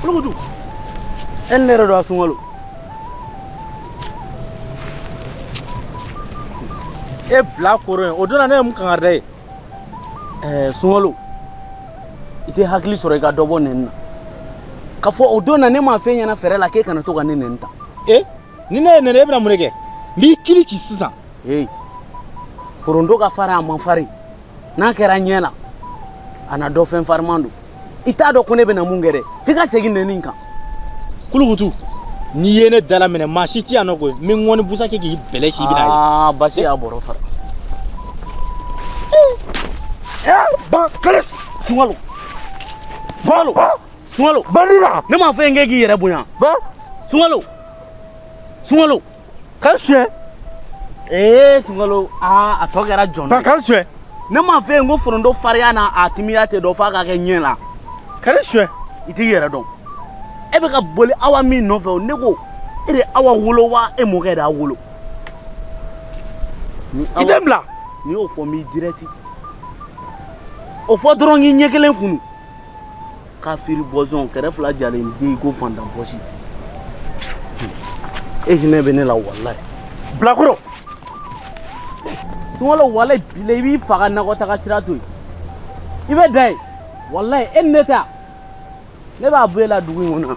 Kulukutu e ni ne yɛrɛ don a sunkalo e bilakoro yen o don na ne ye mun kangari d'i ye ɛɛ sunkalo i tɛ hakili sɔrɔ i ka dɔ bɔ nɛni na k'a fɔ o don na ne m'a f'e ɲɛna fɛrɛ la k'e kana to ka ne nɛni tan e ni ne y'e nɛni e bɛna mun de kɛ kulukutu sisan hey. foronto ka farin a man farin n'a kɛra ɲɛ la a na dɔn fɛn fariman don i t'a dɔn ko ne bɛna mun kɛ dɛ f'i ka segin nɛni in kan kulukutu n'i ye ne dalaminɛ maa si ti yan nɔ koyi n bɛ ŋɔni busan kɛ k'i bɛlɛ ci i bɛna ye basi y'a bɔrɔ fara ban kale sunkalo sunkalo sunkalo bandira ne m'a fɔ e ye k'e k'i yɛrɛ bonya sunkalo sunkalo ka suɲɛ ee sunkalo aa a tɔ kɛra jɔn ye ka suɲɛ ne m'a f'e ye ko foronto fariya n'a timiya tɛ dɔn f'a ka kɛ ɲɛ la ka ne suɲɛ i t'i yɛrɛ dɔn e bɛ ka boli awa min nɔfɛ o ne ko e de awa wolo wa e mɔkɛ de y'a wolo i tɛ bila n'i y'o fɔ n b'i dirɛti o fɔ dɔrɔn k'i ɲɛ kelen funu kafiri bɔzɔn kɛrɛ fila jalen dɛ i ko faantan pɔsi e hinɛ bɛ ne la walayi bilakoro don dɔ walayi bilayi n b'i faga nakɔtaga sira to yen i bɛ da ye walayi e ni ne ta ne b'a bɔ e la dugu in kɔnɔ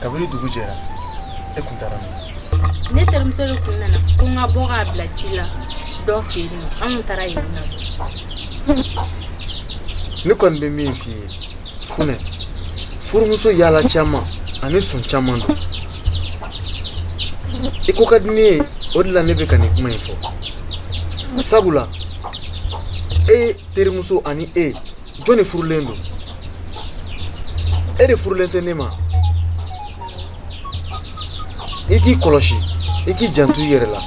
kabini dugu jɛra e kun taara min ne terimuso de kun nana ko n ka bɔ k'a bila sira dɔ fɛ yen nɔ an kun taara yen nɔ ne kɔni bɛ min f'i ye funɛ furumuso yaala caman ani sun caman don i ko ka di ne ye o de la ne bɛ ka nin kuma in fɔ sabula e terimuso ani e jɔn de furulen don e de furulen tɛ ne ma i k'i kɔlɔsi i k'i janto i yɛrɛ la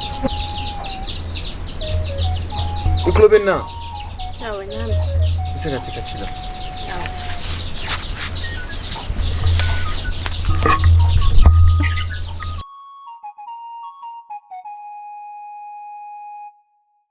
i tulo bɛ n na n bɛ se ka tɛ ka ci la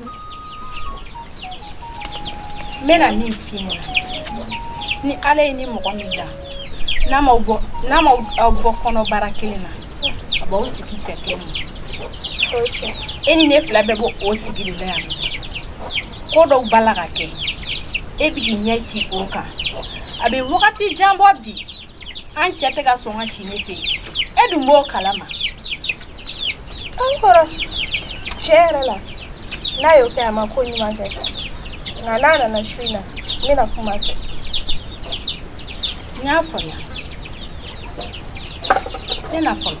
n bɛna min f'i ɲɛna ni ala y'i ni mɔgɔ min da n'a ma bɔ n'a ma aw bɔ kɔnɔbara kelen na a b'aw sigi cɛ kelen ma e ni ne fila bɛɛ b'o o sigi de la yan ko dɔw b'a la ka kɛ e bi k'i ɲɛ ci o kan a bɛ wagati jan bɔ bi an cɛ tɛ ka sɔn ka si ne fɛ e dun b'o kalama an kɔrɔ tiɲɛ yɛrɛ la n'a y'o kɛ a ma ko ɲuman kɛ nka n'a nana su in na n bɛna kuma a fɛ n y'a faamuya ne na fɔlɔ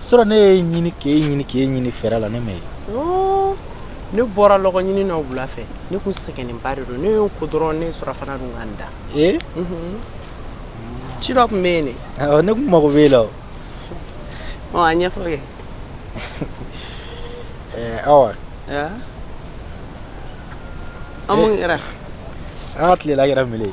surɔ ne y'e ɲini k'e ɲini k'e ɲini fɛrɛ la ne m'e ye ne bɔra lɔgɔ ɲini na wula fɛ ne tun sɛgɛnnenba de don ne ye n ko dɔrɔn ne ye surafana dun ka n da ee ci dɔ tun bɛ yen de ne tun mago bɛ e la o ɔ a ɲɛfɔ kɛ awa an mun kɛra an ka tilela kɛra mele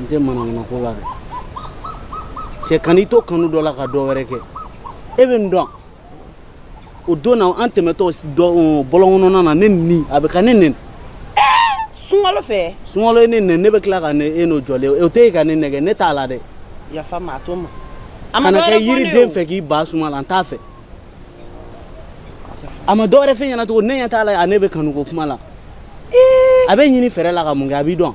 n tɛ manamanako la dɛ cɛ kan'i to kanu dɔ la ka dɔ wɛrɛ kɛ e bɛ n dɔn o don na an tɛmɛtɔ bɔlɔnkɔnɔna na ne ni a bɛ ka ne nɛni sungalo fɛ sungalo ye ne nɛni ne bɛ tila ka ne e n'o jɔlen o tɛ e ka ne nɛgɛn ne t'a la dɛ yafa n ma a to n ma kana kɛ yiriden fɛ k'i ban suma la n t'a fɛ a ma dɔwɛrɛ fɛn ɲɛna cogo ne ɲɛ t'a la a ne bɛ kanuko kuma la a b'e ɲini fɛrɛ la ka mun kɛ a b'i dɔn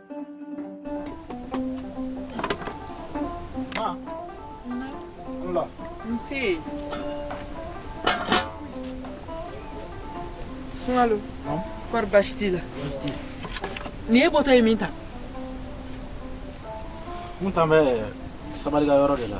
Nse. Sungalo. Kɔri baasi t'i la? Baasi t'i la. Nin e bɔtɔ ye min tan? N tun bɛ sabalika yɔrɔ de la.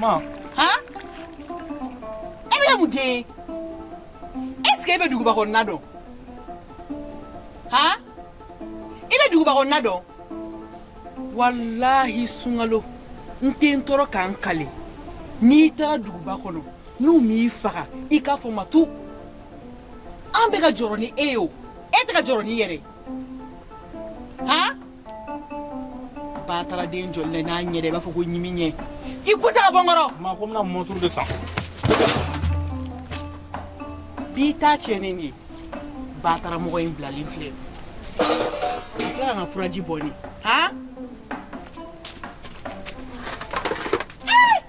Ma. Ha? E bɛ taa min dɛ? Est-ce que e bɛ duguba kɔnɔna dɔn? Ha? I bɛ duguba kɔnɔna dɔn? Walahi Sungalo n tɛ n tɔɔrɔ ka n kali n'i taara duguba kɔnɔ n'u m'i faga i k'a fɔ Matu an bɛ ka jɔrɔ ni e ye o e tɛ ka jɔrɔ n'i yɛrɛ ye. bataraden jɔli la n'a ɲɛ dɛ i b'a fɔ ko ɲimi ɲɛ i ko tɛ ka bɔ n kɔrɔ ma ko n bɛna mɔturu de san bi t'a tiɲɛnen de ye bataramɔgɔ in bilalen filɛ a filɛ ka n ka furaji bɔ ne han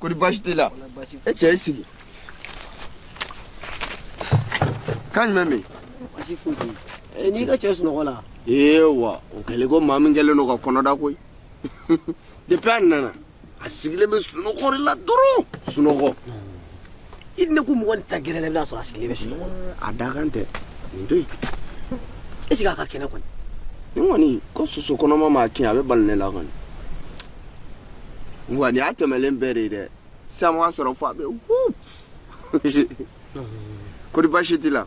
kɔri baasi t'i la e cɛ i sigi kan jumɛn bɛ yen baasi foyi tɛ yen n'i ka cɛ sunɔgɔ la ee wa o kɛlen ko maa min kɛlen don ka kɔnɔda koyi depuis a nana a sigilen bɛ sunɔgɔ de la dɔrɔn sunɔgɔ i ne ko mɔgɔ taa gɛrɛ la i bɛna sɔrɔ a sigilen bɛ sunɔgɔ a da kan tɛ nin to yen est ce que a ka kɛnɛ kɔni nin kɔni ko soso kɔnɔma m'a kin a bɛ bala ne la kɔni wa nin y'a tɛmɛlen bɛɛ de ye dɛ sisan mun y'a sɔrɔ fo a bɛ wup kodi baasi t'i la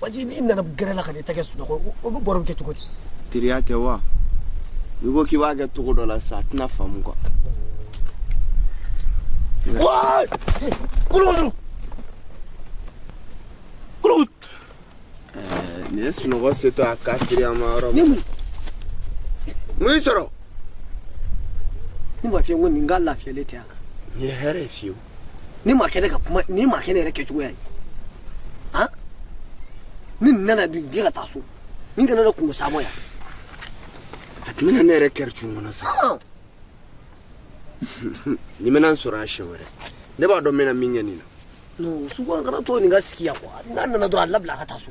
waati n'i nana gɛrɛ la ka n'i tɛgɛ sunɔgɔ o bɛ baro bɛ kɛ cogo di teriya tɛ wa n'i ko k'i b'a kɛ cogo dɔ la sa a tɛna faamu kuwa Why? Kulukulu! Kulukulu! Nin ye sunɔgɔ setɔ a kafiri an ma yɔrɔ min. Mun y'i sɔrɔ? Ne b'a f'i ye ko nin ka lafiyalen tɛ yan. Nin tɛ hɛrɛ ye fiyewu. nin ma kɛ ne ka kuma nin ma kɛ ne yɛrɛ kɛcogoya ye han ni nin nana dun diɲɛ ka taa so nin kana ne kungo saamɔ yan a tun bɛna ne yɛrɛ kɛri cun kɔnɔ sa Han! nin mana n sɔrɔ yan siɲɛ wɛrɛ ne b'a dɔn n bɛna min kɛ nin na non sugu an kana to nin ka sigi yan kuwa n'a nana dɔrɔn a labila a ka taa so